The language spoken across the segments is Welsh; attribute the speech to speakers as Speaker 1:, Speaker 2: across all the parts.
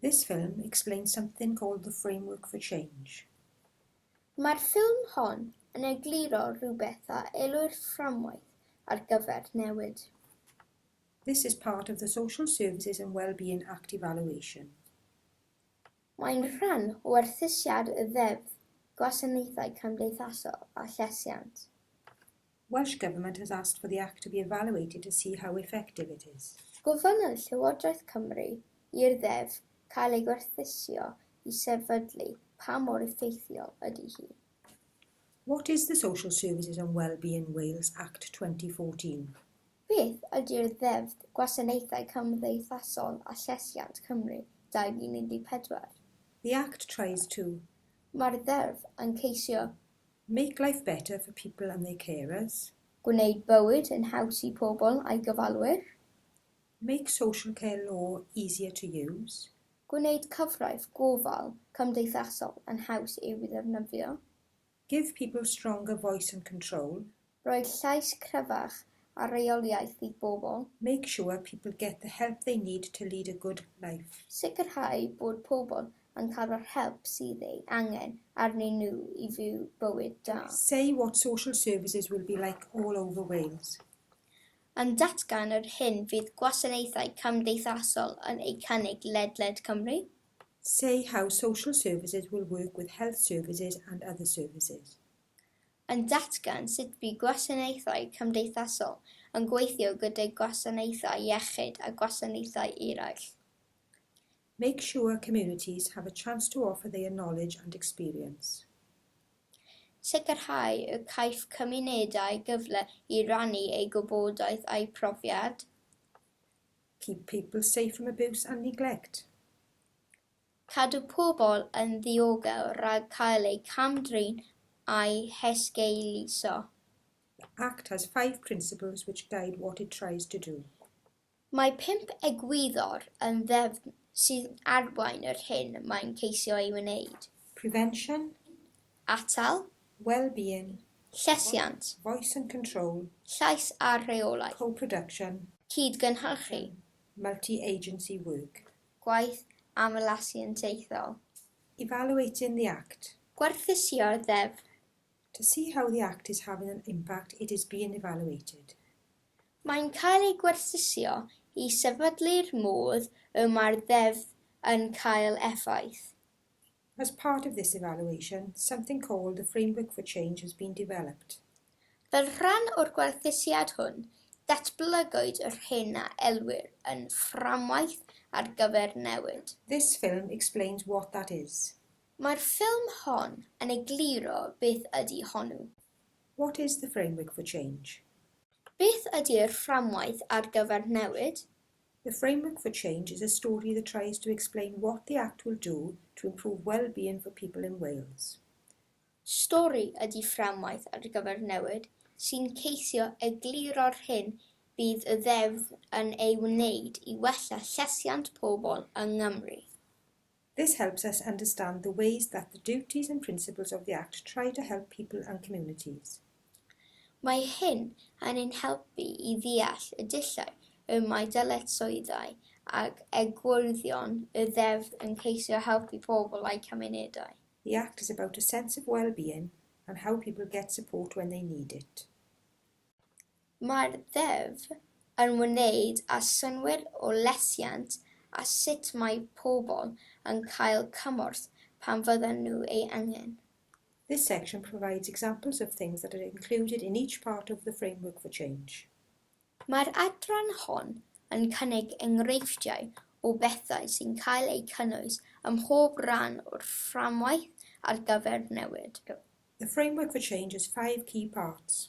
Speaker 1: This film explains something called the framework for change. Mae'r ffilm hon yn egluro rhywbeth a elwir fframwaith ar gyfer newid. This is part of the Social Services and Wellbeing Act evaluation. Mae'n rhan o werthusiad y Ddeddf Gwasanaethau Cymdeithasol a Llesiant. Welsh Government has asked for the Act to be evaluated to see how effective it is. Gofynnodd Llywodraeth Cymru i'r Ddeddf cael ei gwerthuso i sefydlu pa mor effeithiol ydy hi. What is the Social Services and Wellbeing Wales Act 2014? Beth ydy'r Ddeddf Gwasanaethau Cymdeithasol a Llesiant, Cymru, 2014? The Act tries to. Mae'r Ddeddf yn ceisio Make life better for people and their carers. Gwneud bywyd yn haws i pobl a'i gofalwyr. Make social care law easier to use. Gwneud cyfraith gofal cymdeithasol yn haws i'w ddefnyddio. Give people stronger voice and control. Rhoi llais cryfach a rheoliaeth i bobl. Make sure people get the help they need to lead a good life. Sicrhau bod pobl yn cael yr help sydd ei angen arnyn nhw i fyw bywyd da. Say what social services will be like all over Wales. Yn datgan yr hyn fydd gwasanaethau cymdeithasol yn eu cynnig ledled Cymru. Say how social services will work with health services and other services. yn datgan sut bu gwasanaethau cymdeithasol yn gweithio gydag gwasanaethau iechyd a gwasanaethau eraill. Make sure communities have a chance to offer their knowledge and experience. Sicrhau y caiff cymunedau gyfle i rannu eu gwybodaeth a'u profiad. Keep people safe from abuse and neglect. Cadw pobl yn ddiogel rhag cael eu cam-drin a'u hesgeuluso. Act has five principles which guide what it tries to do. Mae pump egwyddor yn ddeddf sy'n arwain yr hyn mae'n ceisio ei wneud. Prevention. Atal. Well-being. Llesiant. Voice and control. Llais a rheolaeth. Co-production. Cyd-gynhyrchu. Multi-agency work. gwaith aml asiantaethol. Evaluating the Act. Gwerthusio'r Ddeddf. To see how the Act is having an impact it is being evaluated. Mae'n cael ei gwerthusio i sefydlu'r modd y mae'r Ddeddf yn cael effaith. As part of this evaluation, something called the Framework for Change has been developed. Fel rhan o'r gwerthusiad hwn, datblygwyd yr hyn a elwir yn Fframwaith ar gyfer Newid. This film explains what that is. Mae'r ffilm hon yn egluro beth ydy honnw. What is the Framework for Change? Beth ydy'r Fframwaith ar gyfer Newid? The Framework for Change is a story that tries to explain what the Act will do to improve well-being for people in Wales. Stori ydy Fframwaith ar gyfer Newid sy'n ceisio egluro'r hyn bydd y Ddeddf yn ei wneud i wella llesiant pobl yng Nghymru. This helps us understand the ways that the duties and principles of the Act try to help people and communities. Mae hyn yn ein helpu i ddeall y dulliau y mae dyletswyddau ac egwyddorion y Ddeddf yn ceisio helpu pobl a'u cymunedau. The Act is about a sense of well-being and how people get support when they need it. Mae'r Ddeddf yn wneud â synnwyr o lesiant a sut mae pobl yn cael cymorth pan fyddan nhw ei angen. This section provides examples of things that are included in each part of the Framework for Change. Mae'r adran hon yn cynnig enghreifftiau o bethau sy'n cael eu cynnwys ym mhob rhan o'r Fframwaith ar gyfer Newid. The Framework for Change has five key parts.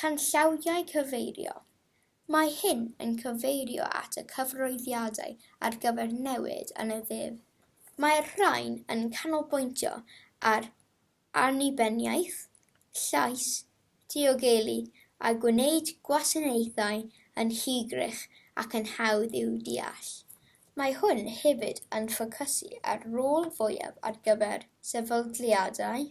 Speaker 1: Canllawiau cyfeirio, Mae hyn yn cyfeirio at y cyfarwyddiadau ar gyfer newid yn y ddeddf. Mae'r rhain yn canolbwyntio ar annibyniaeth, llais, diogelu a gwneud gwasanaethau yn hygyrch ac yn hawdd i'w deall. Mae hwn hefyd yn ffocysu ar rôl fwyaf ar gyfer sefydliadau.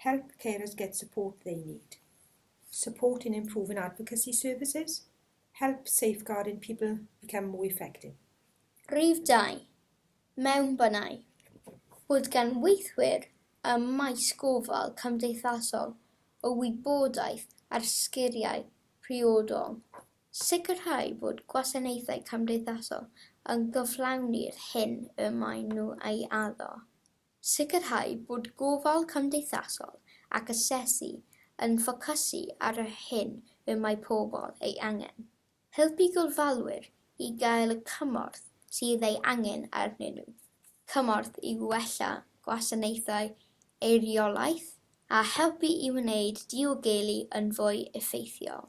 Speaker 1: Help carers get support they need, support in improving advocacy services, help safeguarding people become more effective. Rhif 2. Mewnbynau. Bod gan weithwyr y maes gofal cymdeithasol o wybodaeth ar sgeriau priodol. Sicrhau bod gwasanaethau cymdeithasol yn cyflawni'r hyn y maen nhw ei addo. Sicrhau bod gofal cymdeithasol ac asesu yn ffocysu ar yr hyn y mae pobl ei angen. Helpu gofalwyr i gael y cymorth sydd ei angen arnyn nhw, cymorth i wella gwasanaethau eiriolaeth a helpu i wneud diogelu yn fwy effeithiol.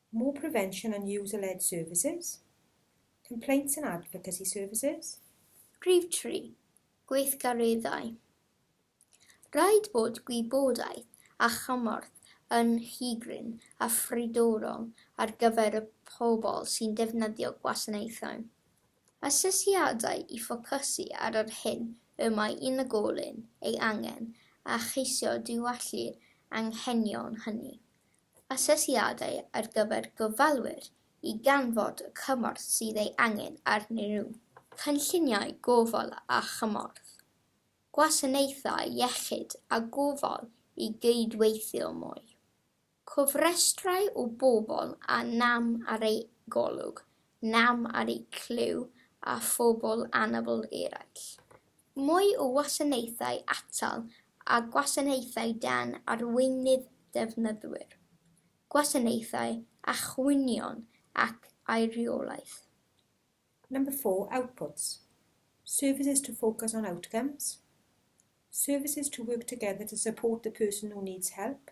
Speaker 1: More prevention and user-led services, complaints and advocacy services. Rhif tri, gweithgareddau. Rhaid bod gwybodaeth a chymorth yn rhygryn a phridorol ar gyfer y pobl sy'n defnyddio gwasanaethau. Asesiadau i ffocysu ar yr hyn y mae unigolyn ei angen a cheisio diwallu'r anghenion hynny. Asesiadau ar gyfer gofalwyr i ganfod y cymorth sydd ei angen arnyn nhw. Cynlluniau gofal a chymorth. Gwasanaethau iechyd a gofal i gydweithio mwy. Cofrestrau o bobl â nam ar eu golwg, nam ar eu clyw a phobl anabl eraill. Mwy o wasanaethau atal a gwasanaethau dan arweinydd defnyddwyr, gwasanaethau a chwynion ac aeriolaeth. Number four, outputs, services to focus on outcomes, services to work together to support the person who needs help,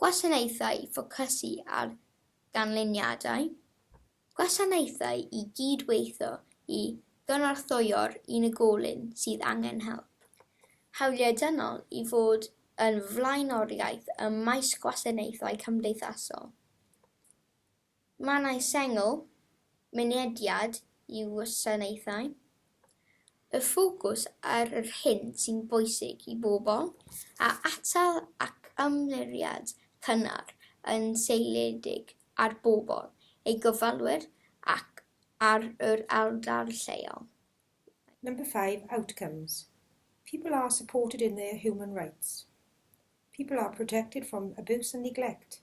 Speaker 1: Gwasanaethau i ffocysu ar ganlyniadau, gwasanaethau i gyd-weithio i gynorthwyo'r unigolyn sydd angen help, hawliau dynol i fod yn flaenoriaeth ym maes gwasanaethau cymdeithasol. Mannau sengl, mynediad i wasanaethau, y ffocws ar yr hyn sy'n bwysig i bobl, a atal ac ymyriad cynnar yn seiliedig ar bobl, ei gofalwyr ac ar yr ardal lleol. Number five, outcomes, people are supported in their human rights, people are protected from abuse and neglect,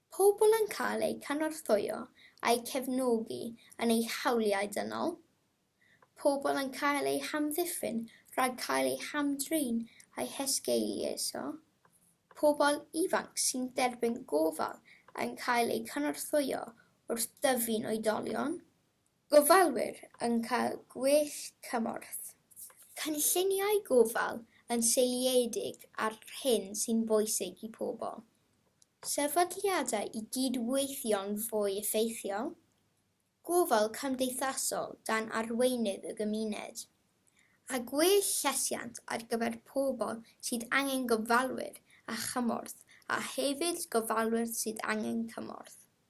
Speaker 1: Pobl yn cael eu cynorthwyo a'u cefnogi yn eu hawliau dynol, pobl yn cael eu hamddiffyn rhag cael eu hamdrin a'u hesgeuluso, pobl ifanc sy'n derbyn gofal yn cael eu cynorthwyo wrth dyfu'n oedolion, Gofalwyr yn cael gwell cymorth. Cynlluniau gofal yn seiliedig ar hyn sy'n bwysig i pobl. Sefydliadau i gyd-weithio'n fwy effeithiol. Gofal cymdeithasol dan arweinydd y gymuned. A gwell llesiant ar gyfer pobl sydd angen gofalwyr a chymorth a hefyd gofalwyr sydd angen cymorth.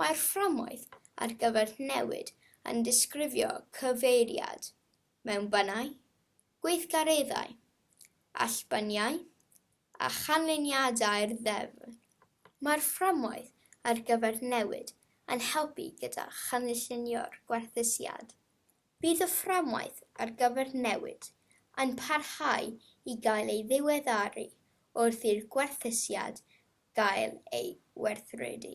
Speaker 1: Mae'r fframwaith ar gyfer newid yn disgrifio cyfeiriad mewn bannau, gweithgareddau, allbaniau a chanlyniadau'r ddeddf. Mae'r fframwaith ar gyfer newid yn helpu gyda chynllunio'r gwerthusiad. Bydd y fframwaith ar gyfer newid yn parhau i gael ei ddiweddaru wrth i'r gwerthusiad gael ei werthredu.